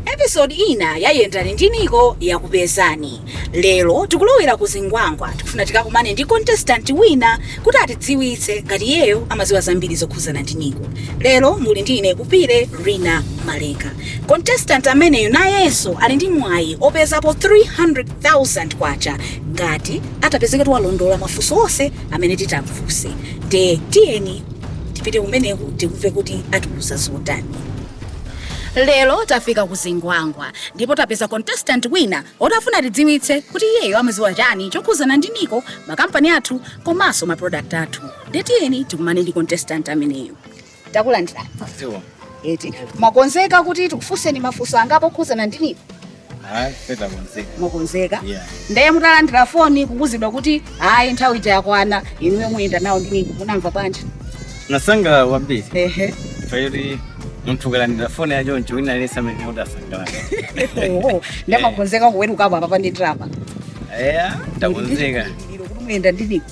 episode ina ya yendani ndi nico yakupezani lero tikulowera ku zingwangwa tikufuna tikakumane ndi contestant wina kuti atidziwitse ngati iyeyo amadziwa zambiri zokhuzana ndi nico lero muli ndi ine kupire rina maleka Contestant ameneyo nayenso ali ndi mwayi opezapo K300,000 ngati atapezeke kuti walondola mafunso onse amene titamfunse. Nde tiyeni tipite kumeneko tikumve kuti atiuza zotani. Lero tafika ku Zingwangwa ndipo tapeza contestant wina oti afuna atidziwitse kuti iyeyo amaziwa chani chokhuzana ndi Nico, ma company athu komanso ma product athu. Nde tiyeni tikumane ndi contestant ameneyo. takulandirani Zikomo. eti mwakonzeka kuti tikufunseni mafunso angapo okhuzana ndi nico Hai, peta mziki. mwakonzeka Yeah. ndiye mutalandira foni kuuzidwa kuti ayi nthawi ija yakwana inuyo muyenda nawo ndi nico munamva bwanji Ndinasangalala kwambiri. ehe Paliponse munthu ukalandira foni ya choncho wina aliyense amene udasangala. Oho, nde mwakonzeka kuwerukapo apa pa ndi ndrama Eh, takonzeka. Ndi lero kuti muyenda ndi nico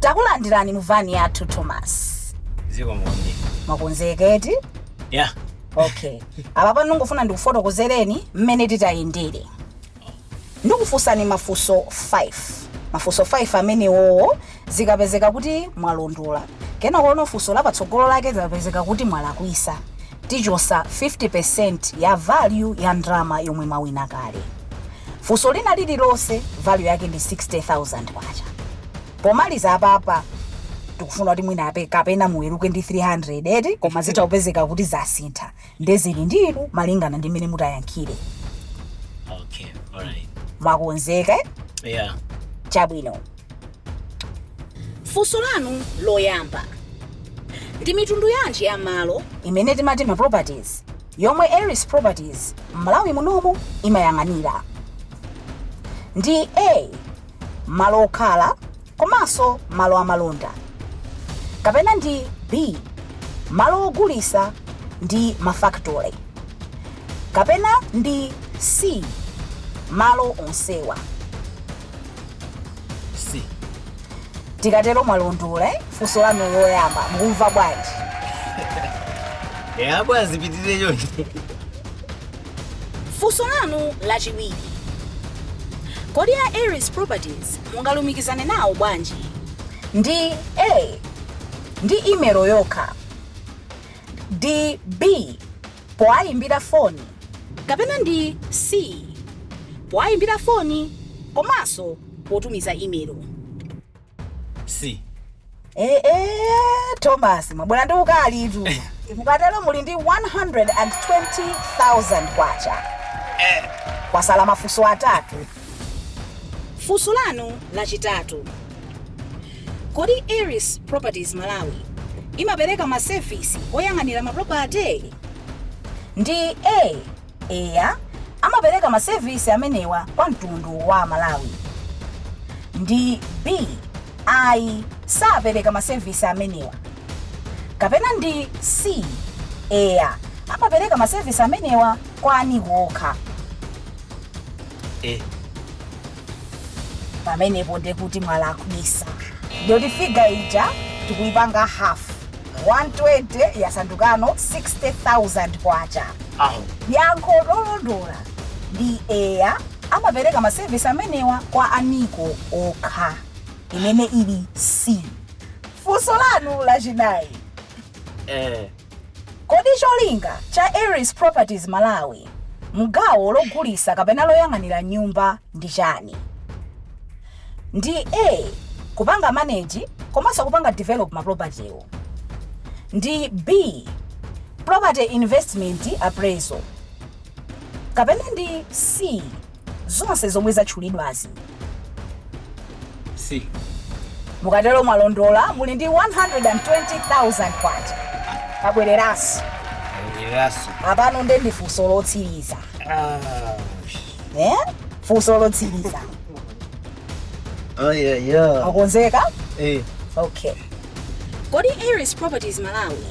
takulandirani mu vani yathu thomas zikomo kwambiri mwakonzeka eti ya okay apa pano ndikufuna ndikufotokozereni mmene titayendere ndikufunsani mafunso 5 mafunso 5 amenewowo Zikapezeka kuti mwalondola, kenako funso la patsogolo lake zikapezeka kuti mwalakwisa, tichosa 50% ya value ya ndrama yomwe mwawina kale. Funso lina lililonse value yake ndi K60,000. Pomaliza apapa tikufuna kuti mwina kapena muweluke ndi 300 eti koma zitha kupezeka kuti zasintha nde zili ndi inu malingana ndi mmene mutayankhire. Okay, alright. Mwakonzeka? Yeah. Chabwino. funso lanu loyamba ndi mitundu yanji ya malo imene timati ma properties yomwe eris properties m'malawi munomu imayang'anira ndi a malo okhala komanso malo amalonda kapena ndi b malo ogulisa ndi mafactory kapena ndi c malo onsewa C mukatero mwalondola eh? funso lanu loyamba mukumva bwanji eya bwana zipitirire choncho funso lanu lachiwiri kodi a eris properties mungalumikizane nawo bwanji ndi a ndi imelo yokha ndi b powayimbira foni. kapena ndi C powayimbira foni komanso potumiza imelo. C. Eee, Thomas mwabwera ndi ukalitu. Mukatero muli ndi 120,000 kwacha. Kwasala mafunso atatu. Funso lanu lachitatu. Kodi Eris Properties Malawi imapereka ma service oyang'anira ma property? Ndi A. Eya, amapereka ma service amenewa kwa mtundu wa Malawi. Ndi B. Ayi, sapereka ma service amenewa. Kapena ndi C. Eya, amapereka ma service amenewa kwa a NICO okha. eh. pamenepo ndekuti mwalakwisa ndikuti figure ija tikuyipanga half 120 yasandukano 60000 kwacha aho yankho lolondola ndi eya amapereka masevisi amenewa kwa a NICO okha imene ili c funso lanu lachinayi eh. Kodi cholinga cha Eris Properties Malawi mgawo logulisa kapena loyang'anira nyumba ndi chani? Ndi A kupanga manage komanso kupanga develop ma property wo. Ndi B property investment appraisal. Kapena ndi C. zonse zomwe zatchulidwazi. C. Mukatero mwalondola muli ndi 120,000 kwacha. Kabwereranso. Kabwereranso. Apano nde ndi funso lotsiriza. Ah. Eh? Funso lotsiriza. Oh yeah, yeah. Okonzeka? Eh. Okay. Kodi Eris Properties Malawi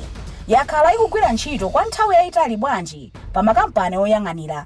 yakhala ikugwira ntchito kwa nthawi yayitali bwanji pa makampani oyang'anira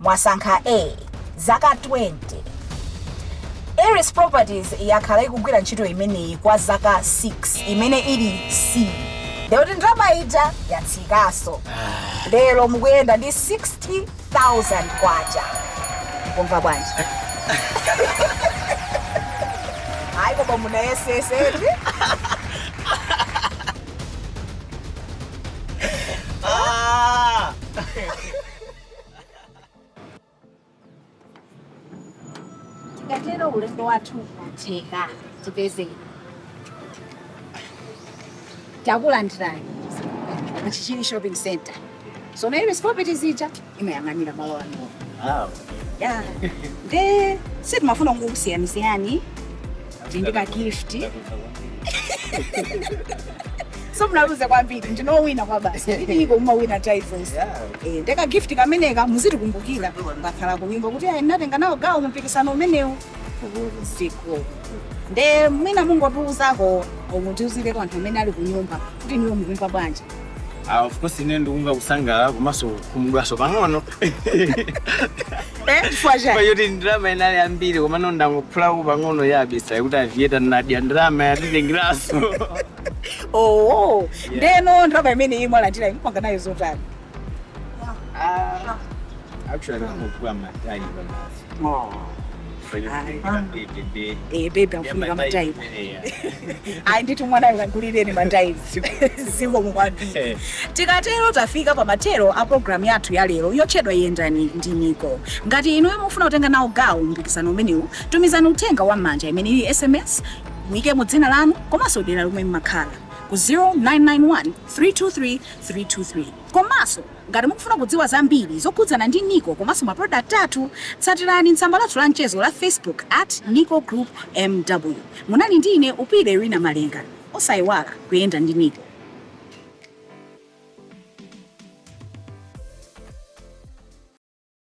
mwasankha a zaka 20 eris properties yakhala ikugwira ntchito imeneyi kwa zaka 6 imene ili c ndekuti ndalama ija yatsikaso lero mukuyenda ndi 60000 kwacha kumva bwanji ayi koma munayesetsa Tikatero ulendo wathu watheka tipeze takulandirani ku Chichiri shopping center so ndi Eris Properties ija imayang'anira malo ano Ah, ya nde sitimafuna kungokusiyanisiyani ndi ka gift so simunaluze kwambiri ndinu owina kale basi iliko mumawina titles yeah. Eh, nde ka gift kameneka muzitikumbukira mukakhala kunyumba kuti ayi ndinatenga nawo gawo mumpikisano umenewu zikomo nde mwina mungotiuzako mutiuzireko anthu amene ali kunyumba kuti inuyo mukumva bwanji Ah, of course ine ndikumva kusangalala komanso kukhumudwaso pang'ono Eh, chifukwa chani? kwa choti ndalama inali yambiri komano ndangophulako pang'ono yabasi ndiye kuti a vendor andidya ndalama yatitengeraso Oh, ndeno ndalama imene iyi mwalandirayi mupanga nayo zotani? actually ndikangogula ma diaper basi Eh, baby akufunika ma diaper ayi ndithu mwanayo mukagulireni ma diaper zikomo kwambiri tikatero tafika pa mathero a programu yathu ya lero yotchedwa yendani ndi NICO ngati inuyo mufuna kutenga nawo gawo mpikisano umenewu tumizani uthenga wa m'manja imene ili sms muyikemo dzina lanu komanso dera lomwe mmakhala ku 0991 323 323 komanso Ngati mukufuna kudziwa zambiri zokhudzana ndi NICO komanso ma product athu, tsatirani tsamba lathu la mchezo la Facebook at NICO Group MW. Munali ndi ine Upile Irina Malenga. Osaiwala, kuyenda ndi NICO.